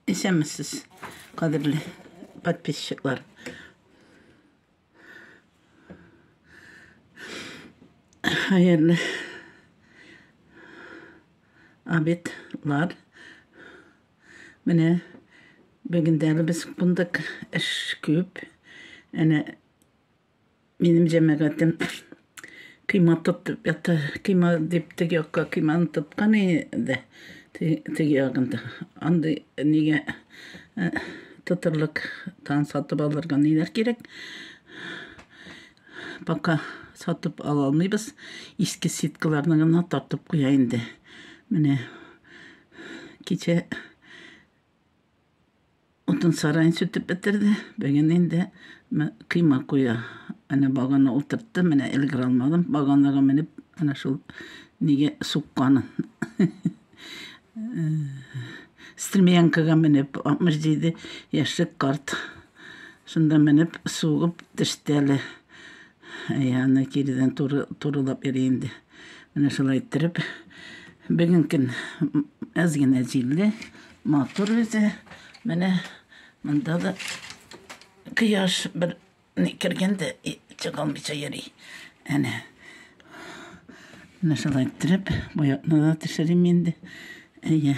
Исәнмесез, кадерле подписчиклар. Хәерле обедлар. Менә бүгендә без кундык эш күп. Әнә Минем җәмәгатем кыйма тотып ята. Кыйма дип теге якка кыйманы тоткан иде. Теге ягында. Андый нигә э, тотырлык тан сатып алырга ниләр кирәк? Пока сатып ала алмыйбыз. Иске сеткаларны гына тартып куя инде. Менә кичә Утын сараен сүтеп бетерде. Бүген инде кыйма куя. Әнә багана утыртты, менә элгер алмадым. Баганага менеп, әнә шул нигә сукканын. Стремянкага менеп, 67 яшьлек карт. Шунда менеп, сугып төште әле. Әй, аны кирдән туры, турылап йөри инде. Менә шулай иттереп. Бүген көн әз генә җилле, матур үзе. Менә монда да кояш бер ни кергәндә чыга алмыйча йөри. Әнә. Менә шулай иттереп, боякны да төшерим инде. Әйе.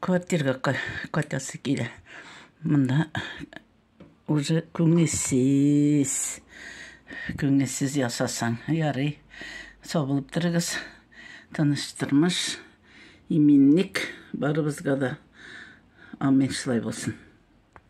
Квартирга кайтасы килә. Монда уже күңелсез. Күңелсез ясасаң, ярый. Сабылып торыгыз. Тыныч тормыш, иминлек барыбызга да. Амин шулай булсын.